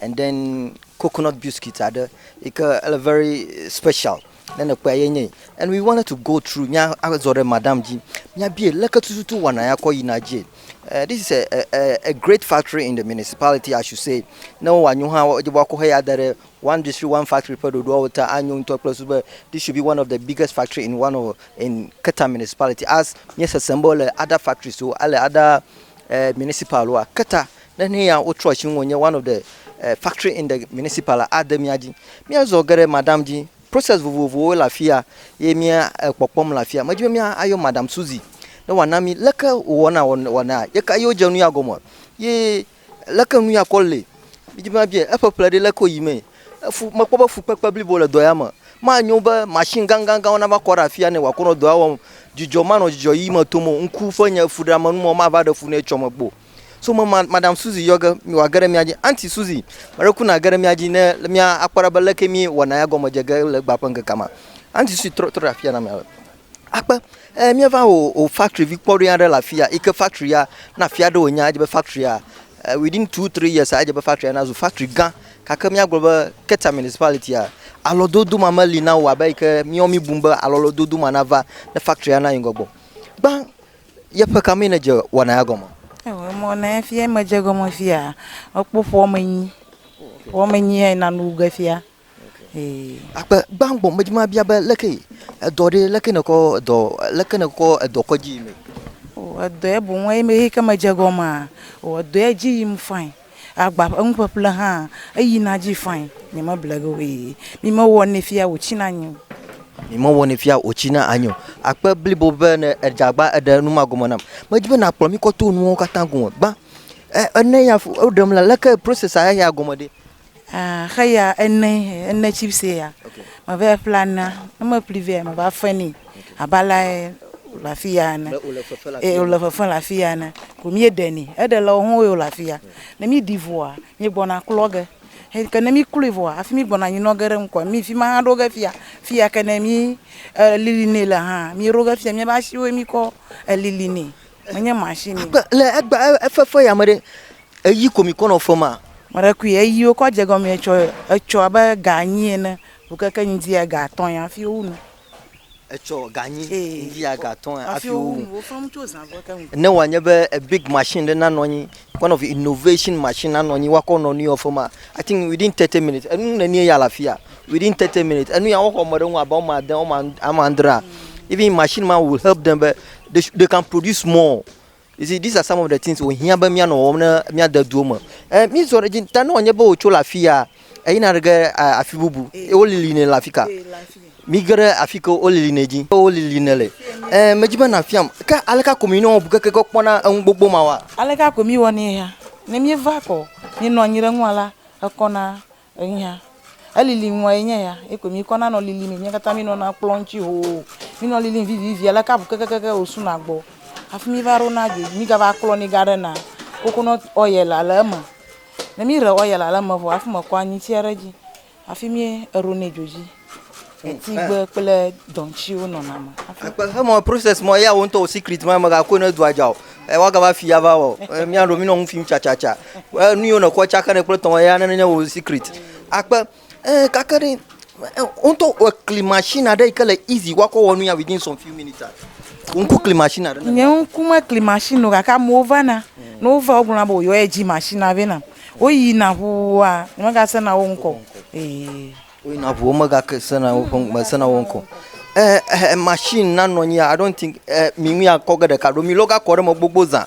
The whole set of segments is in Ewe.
and then coconut biscuit aɖe yi ke ele very special ne nèkpɔe ye nye yi and we wanted to go through mía azɔ ɖe madam dzi míabie leke tututu wɔna ya kɔ yina dzie uh, this is a, a, a, a great factory in the municipality i should say ne wowɔ anyo hã wodze be wakɔ heya da ɖe one district one factory ƒe ɖoɖoawo ta anyo ŋutɔ kple su be this should be one of the biggest factory in one of in keta municipality as míesesem be wole ada factories wo ale ada uh, municipal woa keta Nenea wotrɔ tsi ŋunye one of the factory in the municipal la ade mía dzi. Mía zɔ geɖe madam dzi. Process vovovowo le afia ye mía kpɔkpɔm le afia. Medi be mía ayɔ madam Suzy ne wòa na mí leke wò wɔna wɔna ye ka ye wo dze nuya gɔme ye leke nuya kɔ le. Mí di be mía biae eƒe ƒle ɖe leke wo yi mee. Efu me kpɔ be fukpekpe blibo le dɔ ya me. Ma nyo be machine gãgãgãwo na va kɔ ɖe afia ne wòa kɔ nɔ dɔa wɔm. Dzidzɔ ma nɔ dzidzɔ ɣi me tom o. Ŋku ƒe nye fuɖeame nu ma wò ma va ɖe fu ne etsɔ me kpɔ o. So me ma- Madam Suzy yɔ ge mi wòage ɖe mía dzi. Aunty Suzy, me ɖe kuna ge ɖe mía dzi ne le- mía akpɔ ɖa be leke mí wɔna ya gɔme dze ge le egbea ƒe ŋkekea me. Aunty Suzy trɔ trɔ ɖe afia na mea be, Akpe, e, míeva wò wò factory vi kpɔɖoe aɖe le afia yi ke factory ya na fia ɖe wònya edze be factory ya e, within two three years edze be factory ya nazu factory gã gake míagblɔ be Keta Municipality ya alɔdodo ma meli na wò abe yi ke míawo míbu be alɔlɔdodo ma nava ne factory ya nayi ŋgɔ gbɔ. Gbã Yeƒe ka mee nèdze wɔna ya gɔme? Eo emɔ nɛ efi ye medze gɔme fia, mekpɔ ƒuɔ me nyi. Ƒuɔ me nyi ye nanu ge fia. Ee. Akpe gbangbɔ medzi mabia be leke yi edɔ ɖee, leke nèkɔ edɔ, leke nèkɔ edɔ kɔ dzi yi mee? O edɔɛ boŋ eyi me eyi ke medze gɔmea, o edɔɛ dzi yim fain. Agba ƒe nuƒeƒle hã eyina dzi fain, nyemeble ge o ee. Mi mewɔnɛ fia wòtsina anyi o. Mi mewɔnɛ fia wòtsina anyi o. Akpe blibo be ne èdze agba eɖe nu ma gɔme nam. Medi be nàkplɔ mí kɔ to nuwo katã gome gbã. E, e ne ya fu, woɖem la, leke process-a eya gɔme ɖe? Ah xe ya ene ene chips ya. Okay. Me va ƒla na. Ne me ƒli vɛ me va fe ni. Okay. Aba la e, le afi ya ene. O le fefe la. E o le fefe la afi ya ene. Ko mi ɖe ni. E ɖe le o ho o le afi ya. Ne mi di voa mi gbɔna klɔ ge. He ke ne mi klui voa afi mi gbɔna nyi nɔ ge ɖe ŋkɔ. Mi fi ma ha ɖo ge fia. Fi ya ke ne mi e lili ne le ha. Mi ɖo ge fia mi ba shi wo mi kɔ e lili ne. Menye mashini. Agbe le egbe efefe ya me ɖe, eyi ko mikɔ nɔ fema. Meɖekui eyiwo kɔ dze gɔme etsɔ etsɔ abe ga anyi ene vɔ keke ŋdi ya ga atɔ̃ ya hafi wowu nu. Etsɔ ga anyi ŋdi ya ga atɔ̃ ya hafi wowu nu. Ne wòanye be big mashini ɖe nanɔ anyi One of the innovation machine na nɔnyi wakɔ nɔ nuya ofema. I think within 30 minutes. Enu ne nie ya lafia. Within 30 minutes. Enu ya woxɔ me ɖe ŋu abe ame ade, ame andrea. Even machine ma will help them be they, they can produce more. You see, these are some of the things wo hiã be mía nɔ wɔm ne mía de duo me. Eh, mí zɔ ɖe dzi ta ne wɔ nye be wotso le afia. Eyina ɖe ge eh, afi bubu. Ye wolilinɛ le afi ka? Mige ɖe afi ke wolilinɛ dzi. Ye wolilinɛ le. Ẽ, medi be nàfiam. Ke aleka ko mi nɔwɔ bukeke ge kpɔna enu gbogbo mawa? Aleka ko miwɔnɛ hã? Ne mieva kɔ minɔ anyi ɖe enua la, ekɔna eŋya. Elili nua ye nye ya. Ye ko mikɔna nɔ lilimɛ. Mía katã minɔna kplɔ̃ ŋuti hoo. Minɔ lilim vivivi. Aleka bukekekeke wòsuna gbɔ. Hafi miva ɖona dzoe dzi. Migava klɔnɛ gaɖena. Coconut oil le eme. Ne mi re ɔya la leme vɔ afi me kɔ anyi tsia ɖe dzi afi mi eɖo ne dzo dzi. Etigbe kple dɔntsiwo nɔna me. Akpe he mɔ process mɔ ya wontɔ o secret ma me gakɔ ne dua dza o. E wa gava fi ya va wɔ. E mi aɖo mi nɔ ŋu fim tsa tsa tsa. E nu yo ne kɔ tsa ke ne kple tɔn ya ne ne wo secret. Akpe Eee kake ɖe, woŋtɔ ekli masini aɖe yi ke le izi woakɔ wɔ nu ya within some few minutes aa? Wò ŋku kli masini aɖe nam. Nye ŋku mekli masini o gake amewo vana. Ne wova wogblɔna be woyɔ edzi masinia vɛ nam. Woyina ŋuwua nyemegasena wo ŋkɔ o. Ee. Woyina ŋu womegasena woƒe ŋ mesena wo ŋkɔ o. Ɛɛ ɛhɛ masini na nɔ anyi I don't think ɛɛ mi ŋu akɔ ge ɖeka ɖo mi lɔ gakɔ ɖe eme gbogbo zã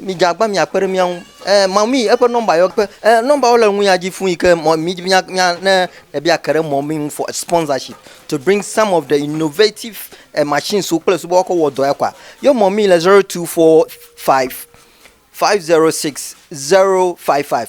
Midze agbagba miakpe ɖe mía ŋu. Ɛɛ, mamii, eƒe nɔmba yɔ kpe. Ɛɛ, nɔmbawo le nuya dzi fũu yi ke mɔ mí mía mía ne ebe ake ɖe mɔ mí ŋu for a sponsorship to bring some of the innovative eh, machines wo kple sugbɔ woakɔ wɔ dɔ ya kɔa. Yɔ mɔ mí le 0245 506 055.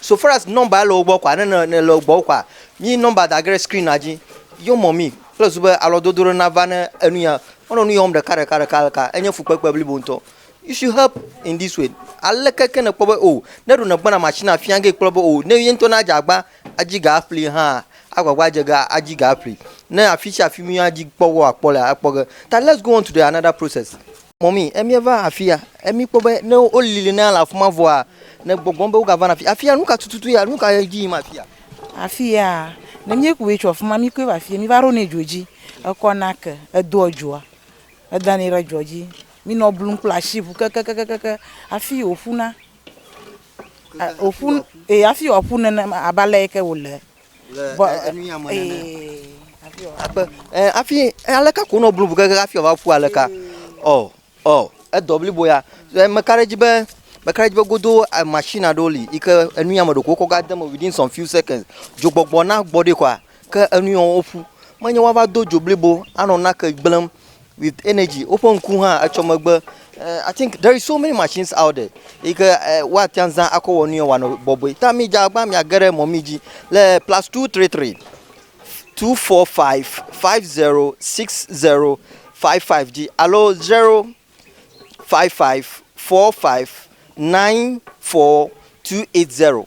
So far as number ele wo gbɔ kɔa, ne ne ne le wo gbɔ kɔa, mi number da ge ɖe screen na dzi. Yɔ mɔ mi kple zu be alɔdodo ɖe nava ne enu ya. Wonɔ nu yɔm ɖeka ɖeka ɖeka ɖeka. Enye fukpekpe blibo ŋutɔ. You should help in this way. Aleke ke nèkpɔ be o ne ɖo nègbɔna machine afia ge kpɔ be o ne ye ŋutɔ ne adze agba adzi ga aƒli hã agbagba adze ga adzi ga aƒli. Ne afi sia afi mi adzi kpɔ ge wòakpɔ lea ekpɔ ge. Ta let's go on to the another process. Mɔmi, emia va afia, emi kpɔ be ne woli li na le afi ma vɔa, ne gbɔgbɔ be wogava na afi afia, nu ka tututu ya, nu ka dzi yim afia? Afia, ne míekui tso afi ma, míekui va afia, míva ɖo ne dzo dzi, ekɔ nake, edoa dzoa, eda ne ɖe dzoa dzi, mínɔ blum kple asi ŋu kekekekeke hafi wòƒuna. Wòƒu, ee hafi wòaƒu nenema abe ale yi ke wòle Vɔ ee hafi aleka ko nɔ blubu gege hafi wòava ƒu aleka ɔ ɔ edɔ blibo ya meka ɖe edzi be meka ɖe edzi be godo machine aɖewo li yi ke enu ya me ɖeko wokɔ va de eme within some few seconds dzogbɔgbɔ na gbɔ ɖi kɔa ke enu ya woƒu menye woava do dzo blibo anɔ nake gblẽm with energy woƒe ŋku hã etsɔ megbe eh, i think there is so many machines out there yi ke eh, woate ŋu zã akɔ wɔ nu yɔ wòanɔ bɔbɔe ta mi dza agba miage ɖe mɔ mi dzi le plus two three three two four five five zero six zero five five dzi alo zero five five four five nine four two eight zero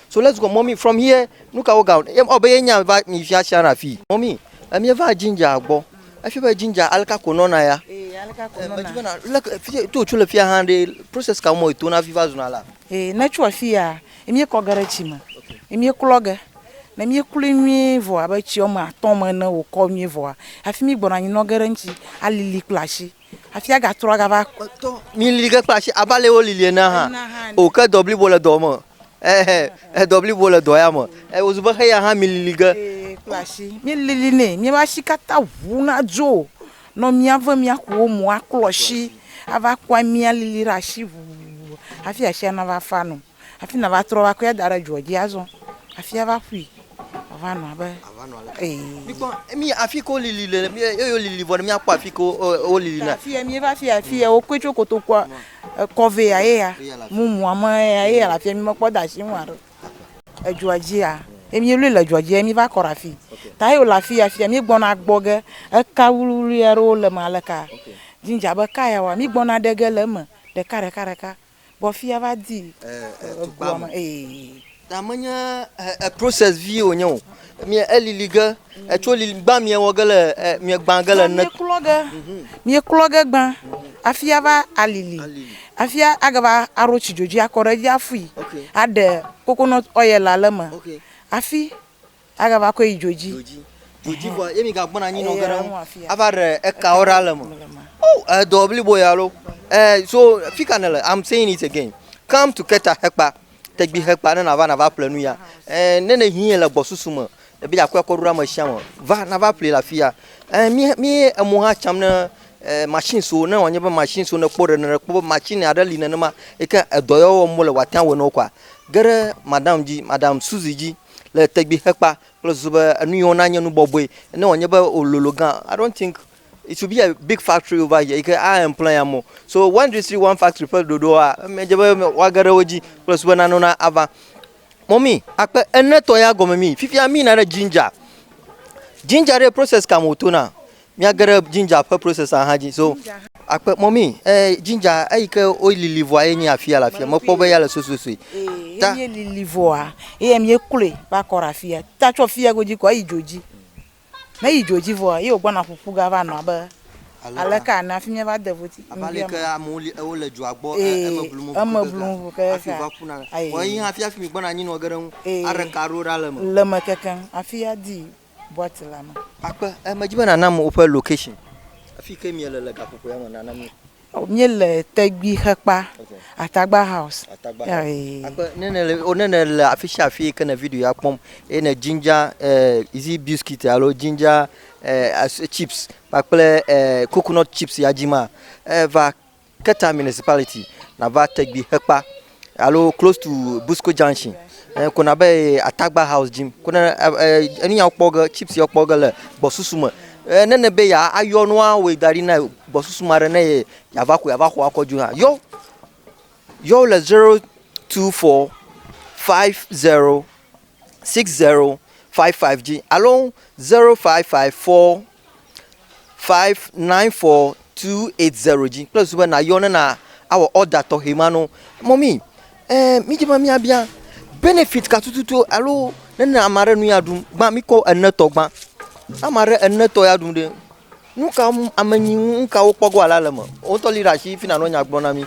So let's go mummy from here nukawo ga ɔ be ye nya va mi fia sia na fi mummy emie va ginger gbɔ efi be ginger aleka ko nɔna ya medzi be na leke to tso le fia hã ɖe process ka mo to na fi va zuna la ee ne tso afi ya emie kɔ ge ɖe tsi me emie klɔ ge ne mi kloe nyuie vɔ abe tsi wɔme atɔ me ne wokɔ nyuie vɔa afi mi gbɔna anyi nɔ ge ɖe ŋtsi alili kple asi Afia gatrɔ agava tɔ. Milili ke kple asi abe ale wolili ene hã. O ke dɔ blibo le dɔ me. Ehe edɔ blibo le dɔ ya me. E wozu be heya hã milili ge. Ee kple asi. Milili nɛ. Miaƒe asi katã ŋu nadzo nɔ mia ve miakuwo mo aklɔ asi ava kpɔ amia lili ɖe asi ŋu hafi asia nava fa nu. Hafi nàva trɔ va kɔe ada ɖe dzoa dzi azɔ hafi ava ƒui wòava nɔ abe ee. Mikpɔ mi afi ke wolili le eye wolili vɔ ne míakpɔ afi ke wolili le. Afi ya míeva afi ya afi ya wokɔe tso kotokua ekɔ vɛ ya ye ya mumua me ya ye ya le afi ya mímekpɔ de asi ŋu haɖe o. Edzoa dzia ye míelui le dzoa dzi ye míva kɔ ɖe afi ta ye wòle afi ya afi ya míegbɔna gbɔ ge eka wluiwlui aɖewo le eme aleka dzidzi abe eka yawoa mígbɔna ɖe ge le eme ɖeka ɖeka ɖeka. Vɔ fia va di egoa me ee. Ta menye process vie wònye o. Mìe elili ge, etso lili gbã mìe wɔ ge le mìe gbã ge le. Mìe klɔ ge, mìe klɔ ge gbã afi ava alili afi age va aɖo tsi dzodzoe akɔ ɖe edzi afui aɖe coconut oil le eme afi. Agava kɔe yi dzodzi. Dzodzi. Dzodzi vɔ ye mi ga gbɔna anyi nɔ geɖe ŋu. Ava ɖe ekawo ɖa le me. O, edɔ blibo ya lo. Eh, so fika ne le. I'm saying it again. Come to Keta Hekpa. Tegbi Hekpa ne na va na va ple nu ya. Eh, ne ne hiɛ le gbɔsusu me. Ebe ya kɔe kɔ ɖo ɖa me shia me. Va na va ple la fia. Eh, mi mi emo ha cham ne eh, machine so ne wanye be machine so ne kpo ɖe ne kpo machine ya ɖe li ne ne ma. Eke edɔ ya wɔm le wa tia wɔe no kwa. Geɖe madam ji, madam Suzy ji. le tɛgbi xekpa kple susu be enu yi wɔna nye nu bɔbɔe ne wòanye be wòlolo gã i don't think it should be a big factory over here yi ke a employ amewo so one district one factory ƒe ɖoɖoa medze be woage ɖe wo dzi kple susu be nanewo na ava mɔmi akpe enetɔ ya gɔme mi fifia mi yina ɖe ginger ginger ɖe process ka me wòtona Míage ɖe ginger ƒe processor hã dzi. So akpe mɔmi eh, ginger eyi ke wolili vɔa ye nye afia le afia. Mekpɔ be ya le sososoe. Eh, ta ye lili vɔa ye mi ekloe va kɔ ɖe afia. Ta tsɔ fia godzi kɔ eyi dzo dzi. Me yi dzo dzi vɔa ye wogbɔna ƒuƒu ga va nɔ abe aleka ne afi mi va de voti. Abali ke amewo li ewo le dzoa gbɔ eh, eme blum vɔ. Eme blum vɔ ke. Afi va kuna. Wɔ yi hafi afi mi gbɔna anyi nɔ geɖe ŋu. Are ka ɖo ɖa le me. Le me kekeŋ afia di. boite la me. Akpe, eh, medi be nànam woƒe location, afi ke miele le gaƒoƒo ya me, nànam ye. Oh, míele Tegui xekpa, Okay. Atagba House. Atagba Ya, House. eh. Akpe, ne nèle, oh, ne nèle afi sia afi ke ne video ya kpɔm eye ne ginger, eh, is it biscuit alo ginger, eh, as- chips kpakple, eh, coconut chips ya dim a, eh, va Keta municipality nava Tegbi Hekpa alo close to Busco Junction eh, ko na be Atagba House jim ko na enu ya kpɔ ge chips ya kpɔ ge le gbɔsusu me eh, ne ne be ya ayɔ nua wo da ɖi na gbɔsusu ma ɖe ne ye ya va ko ya va xɔ akɔ ju na yɔ yɔ le 024 50 60 55 ji alo 0554 594-280 dzi kple susu be nàyɔ ne nàwɔ ɔda tɔxɛ ma na wo. Mɔmie, ɛɛ mídi be míabia benefit ka tututu alo ne ne ame aɖe nu ya ɖum gbã míkɔ enetɔ gbã. Ne ame aɖe enetɔ ya ɖum ɖe, nu ka ŋu ame nyi ŋu nu ka wokpɔ go alo le eme? Wò ŋutɔ li ɖe asi fi nànɔ nya gblɔm na mí.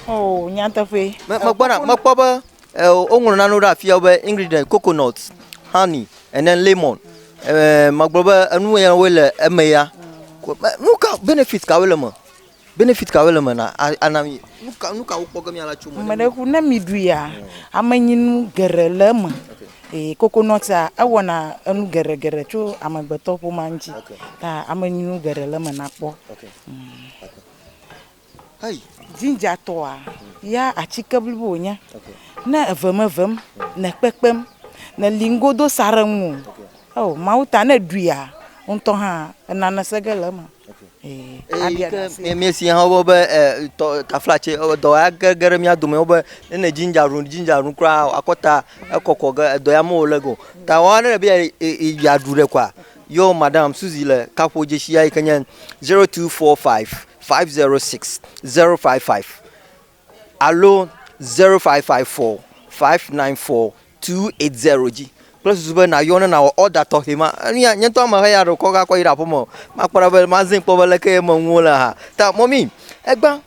Oo, nyateƒee. Me, mekpɔna, mekpɔ be Eo, woŋlɔ nanewo ɖe afia be ingredient, coconut, honey, and then lemon. Eh, magblɔ be enu ya woe le eme ya. Ko- me- Nu ka benefit kawoe le me? Benefit kawoe le me na a- ana mi? Nu ka nu ka wokpɔ ge miala tso me? Ame ɖe ku ne miɖuia, amenyinu geɖe le eme. Ee, kokonɔtia ewɔna enu geɖe geɖe tso amegbetɔƒomea ŋuti. Ta amenyinu geɖe le eme nakpɔ. Hey. Ginger tɔa ya atike blibo wònye. Ne eve me vem, ne kpekpem, ne li ŋgo do sa ɖe ŋu. Oh, mawu ta ne ɖuia, ŋutɔ hã enane se ge le eme. Míesi hã wobe be eh, taflatse eh, dɔ ya ge ge ɖe mía dome wobe ne ne ginger ɖu ginger ɖu kura akɔta ekɔkɔ ge edɔ ya mewɔ le go. Ta wɔna ɖe be yeaɖu ɖe kɔa. Yo madam Suzy le kaƒo dzesi ya yi ke nye zero two four five 506055 alo 0554594280 dzi kple susu be nàyɔ ne nàwɔ ɔda tɔxɛ ma. Enu ya nye ŋutɔ ame ʋe ya ɖo kɔ gakɔ yi ɖe aƒeme o. Makpɔ ɖa be mazẽ kpɔ be leke ye eme nuwo le hã. Ta mɔmi, egbã,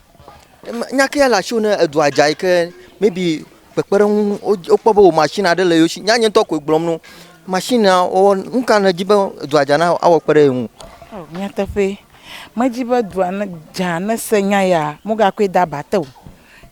nya ke ya le asiwò ne edua dza yi ke maybe kpekpeɖeŋu wokpɔ be wò mashini aɖe le yewo shi. Nya nye ŋutɔ koe gblɔm na wo. Mashinia wɔwɔ, nu ka nèdi be edua dza na awɔ kpe ɖe ye ŋu? Nyateƒee. Medi be dua ne dza ne se nya ya mo ga koe da ba te o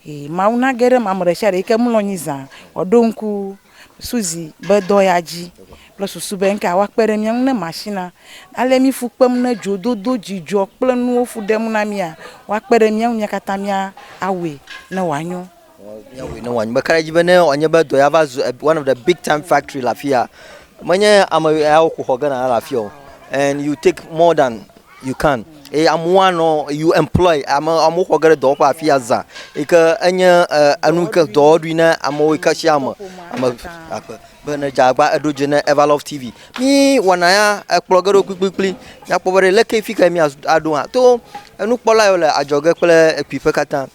e mawu na ge ɖe ma me ɖe sia ɖe yi ke mlɔ anyi za wa ɖo ŋku suzi be dɔ ya dzi kple susu be ŋke awa kpe ɖe mia ŋu ne ma shi na ale mi fu kpem ne dzo dodo dzidzɔ kple nuwo fu ɖem na mia wa kpe ɖe mia ŋu mia katã mia awɔe ne wa nyo. Míawɔe ne wòanyi be ka ɖe edzi be ne wòanye be dɔ ya va zu one of the big time factory le afi ya, menye ame yawo ko xɔ ge na le afi ya o, and you take more than you can eye amewo anɔ you employ ame amewo xɔ ge ɖe dɔwɔƒe afi ya zã yi ke enye enu yi ke dɔwɔɖui na amewo yi ke sia ame ame akpe be ne dze agba eɖo dze ne Everlove TV mi wɔna ya ekplɔ ge ɖo kplikplikpli nakpɔ be ɖe leke fi ke mi aɖo hã to enukpɔla yiwo le adzɔge kple ekpuiƒe katã.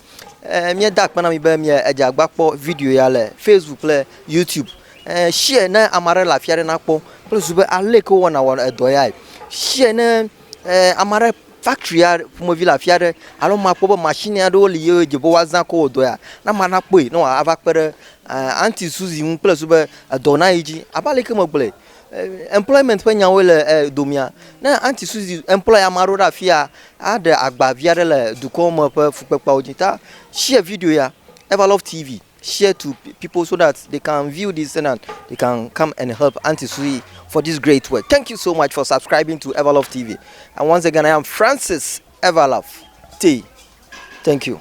Eh, míeda akpe na mi be mie edze agba kpɔ video ya le Facebook kple YouTube. Eh, share ne ame aɖe le afi aɖe nakpɔ kple zu be ale ke wowɔna wɔ edɔ yae. Share ne eh, ame aɖe factory ya ƒomevi le afi aɖe alo makpɔ be machine aɖewo li ye dze be woazã ko wɔ dɔ ya. Na ame aɖe akpɔe ne wòava kpe ɖe eh, anti Suzy ŋu kple zu be edɔ nayi dzi. Abe ale ke megblɔe Employment ƒe nyawoe le domea. Ne Aunty Suzy employ ame aɖewo ɖe afia, aɖe agba vi aɖe le dukɔ me ƒe fukpekpeawo dzi. Ta share video ya, Everlove TV, share to people so that they can view this thing and they can come and help Aunty Suzy for this great work. Thank you so much for subscribing to Everlove TV. And once again, I am Francis Everlove T. Thank you.